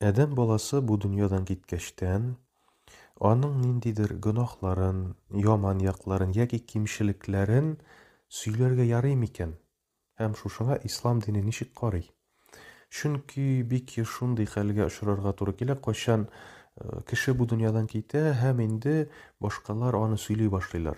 Адәм баласы бу дөньядан киткәчтән, аның ниндидер гөнаһларын, яман якларын яки кимчелекләрен сөйләргә ярый микән? Һәм шушыңа ислам дине ничек карый? Чөнки бик еш шундый хәлгә очрарга туры килә, кайчан э, кеше бу дөньядан китә һәм инде башкалар аны сөйли башлыйлар.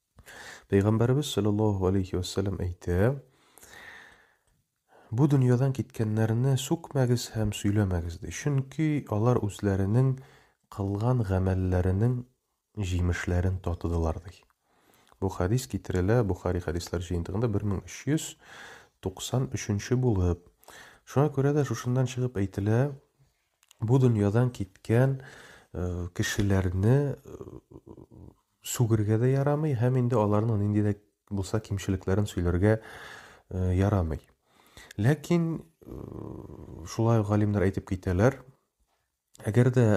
Пәйгамбәребез саллаллаһу алейһи вә сәлләм әйтә, Бу дөньядан киткәннәрне сүкмәгез һәм сөйләмәгез ди. Чөнки алар үзләренең кылган гамәлләренең җимешләрен татыдылар ди. Бу хадис китерелә Бухари хадислар җыентыгында 1393 булып. Шуңа күрә дә шушыннан чыгып әйтелә, бу дөньядан киткән э, кешеләрне э, Сүгергә дә ярамый һәм инде аларның нинди дә булса кимчелекләрен сөйләргә ярамый. Ләкин шулай ук галимнәр әйтеп китәләр, әгәр дә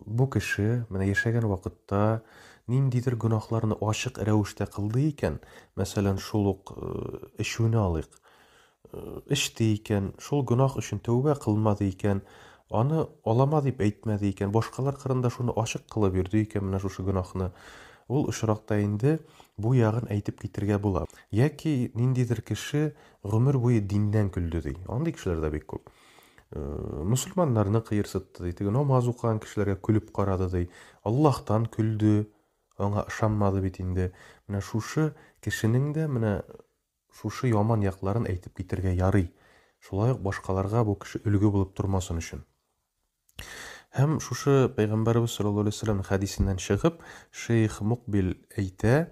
бу кеше менә яшәгән вакытта ниндидер гөнаһларны ачык рәвештә кылды икән, мәсәлән, шул ук эчүне алыйк, эчте икән, шул гөнаһ өчен тәүбә кылмады икән, аны алама дип әйтмәде икән, башкалар кырында шуны ачык кылып йөрде икән менә шушы гөнаһны, ул очракта инде бу ягын әйтеп китергә була. Яки ниндидер кеше гомер буе диннән көлде, ди. Андый кешеләр дә бик күп. Мөселманнарны кыерсытты, ди, теге намаз укыган кешеләргә көлеп карады, ди, Аллаһтан көлде, аңа ышанмады бит инде. Менә шушы кешенең дә менә Шушы яман якларын әйтеп китәргә ярый, шулай ук башкаларга бу кеше өлге булып тормасын өчен. Һәм шушы Пәйгамбәребез саллаллаһу алейһи ва сәлләмнең хәдисеннән чыгып, шейх Мукбил әйтә,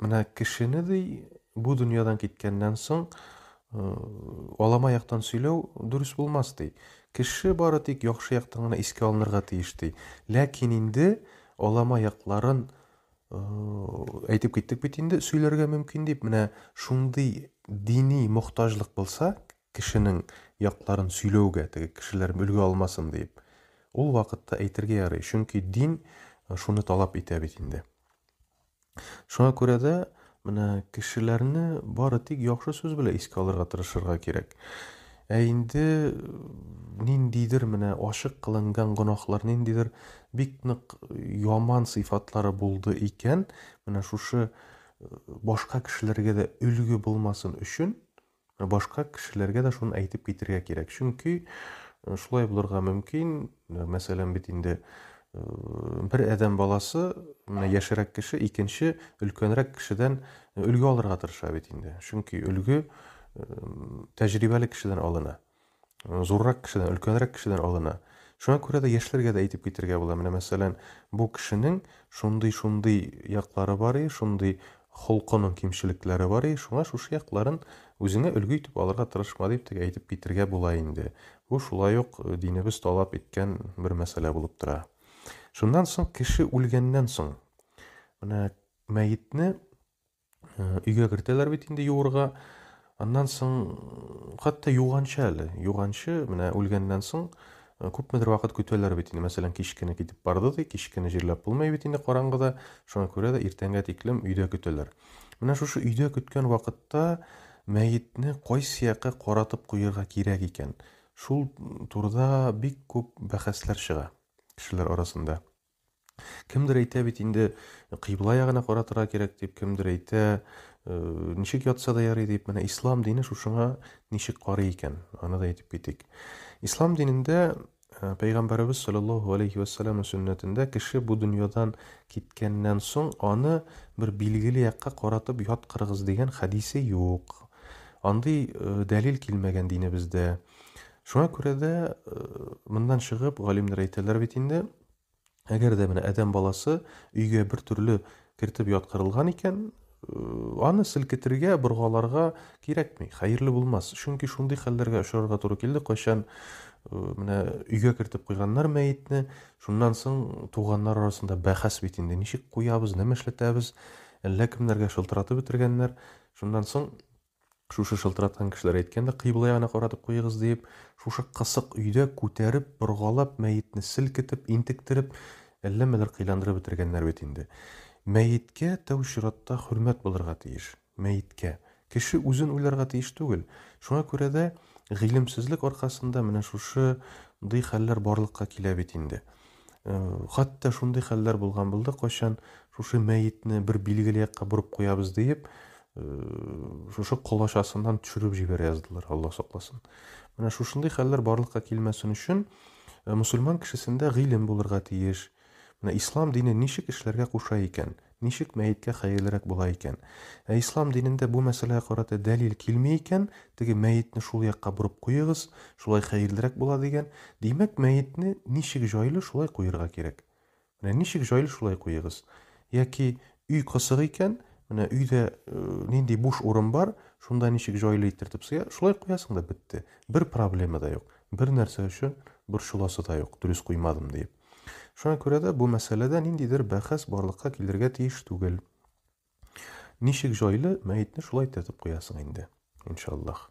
менә кешене ди бу дөньядан киткәннән соң алама яктан сөйләү дөрес булмас ди. Кеше бары тик яхшы яктан гына искә алынырга тиеш ди. Ләкин инде алама якларын әйтеп киттек бит инде сөйләргә мөмкин дип менә шундый дини мохтаҗлык булса кешенең якларын сөйләүгә теге кешеләр өлгә алмасын дип ул вакытта әйтергә ярый чөнки дин шуны талап итә бит инде шуңа күрә дә Менә кешеләрне бары тик яхшы сүз белә искә алырга тырышырга кирәк. Ә инде ниндидер менә ачык кылынган гонахлар, ниндидер бик нык яман сыйфатлары булды икән, менә шушы башка кешеләргә дә өлге булмасын өчен Башка кешеләргә дә шуны әйтеп китергә кирәк. Чөнки шулай булырга мөмкин, мәсәлән, бит инде бер адәм баласы, менә яшерәк кеше икенче өлкәнрәк кешедән өлге алырга тырыша бит инде. Чөнки өлге тәҗрибәле кешедән алына. Зуррак кешедән, өлкәнрәк кешедән алына. Шуңа күрә дә яшьләргә дә әйтеп китергә була. Менә мәсәлән, бу кешенең шундый-шундый яклары бар и, шундый холкының кимчелекләре бар и, шуңа шушы якларын үзеңә өлге итеп алырга тырышма дип теге әйтеп китергә була инде. Бу шулай ук динебез талап иткән бер мәсьәлә булып тора. Шуннан соң кеше үлгәннән соң менә мәетне Э, өйгә кертәләр бит инде юырга. Аннан соң хәтта юганчы әле, юганчы менә үлгәннән соң э, күпмедер вакыт көтәләр бит инде. Мәсәлән, кич кенә китеп барды ди, кич кенә җирләп булмый бит инде караңгыда. Шуңа күрә дә иртәнгә тиклем өйдә көтәләр. Менә шушы өйдә көткән вакытта мәетне кайсы якка каратып куярга кирәк икән? Шул турыда бик күп бәхәсләр чыга кешеләр арасында. Кемдер әйтә бит инде, кыйбла ягына каратырга кирәк дип, кемдер әйтә, э, ничек ятса да ярый дип, менә ислам дине шушыңа ничек карый икән, аны да әйтеп китик. Ислам динендә э, Пәйгамбәребез саллаллаху алейхи вәссәләмнең сөннәтендә кеше бу дөньядан киткәннән соң аны бер билгеле якка каратып яткырыгыз дигән хәдисе юк. Андый э, дәлил килмәгән динебездә. Шуңа күрә дә, э, моннан чыгып, галимнәр әйтәләр бит инде, әгәр дә менә адәм баласы өйгә бер төрле кертеп яткырылган икән, э, аны селкетергә, боргаларга кирәкми, хәерле булмас. Чөнки шундый хәлләргә очрарга туры килде, кайчан э, менә өйгә кертеп куйганнар мәетне, шуннан соң туганнар арасында бәхәс бит инде, ничек куябыз, нәмә эшләтәбез, әллә кемнәргә шылтыратып бетергәннәр. Шуннан соң Шушы шылтыраткан кешеләр әйткән дә, кыйблая гына каратып куегыз диеп. Шушы кысык өйдә күтәреп, боргалап, мәетне селкетеп, интектереп, әлләмәләр кыйландырып бетергәннәр бит инде. Мәеткә тәү чиратта хөрмәт булырга тиеш. Мәеткә. Кеше үзен уйларга тиеш түгел. Шуңа күрә дә гыйлемсезлек аркасында менә шушы дый хәлләр барлыкка килә бит инде. Хәтта шундый хәлләр булган булды, кайчан шушы мәетне бер билгеле якка борып куябыз диеп, шушы колачасыннан төшереп җибәрә яздылар, Алла сакласын. Менә шушындый хәлләр барлыкка килмәсен өчен мусульман кешесендә гыйлем булырга тиеш. Менә ислам дине ничек эшләргә куша икән? Ничек мәеткә хәерлерәк була икән? Ә ислам динендә бу мәсьәләгә карата дәлил килми икән, теге мәетне шул якка борып куегыз, шулай хәерлерәк була дигән. Димәк, мәетне ничек җайлы, шулай куерга кирәк. Менә ничек җайлы, шулай куегыз. Яки өй кысык икән, менә өйдә нинди буш урын бар, шунда ничек җайлы итертеп сыя, шулай куясың да бетте. Бер проблема да юк. Бер нәрсә өчен борчыласы да юк, дөрес куймадым диеп. Шуңа күрә дә бу мәсьәләдә ниндидер бәхәс барлыкка килергә тиеш түгел. Ничек җайлы мәетне шулай тетеп куясың инде, иншаллах.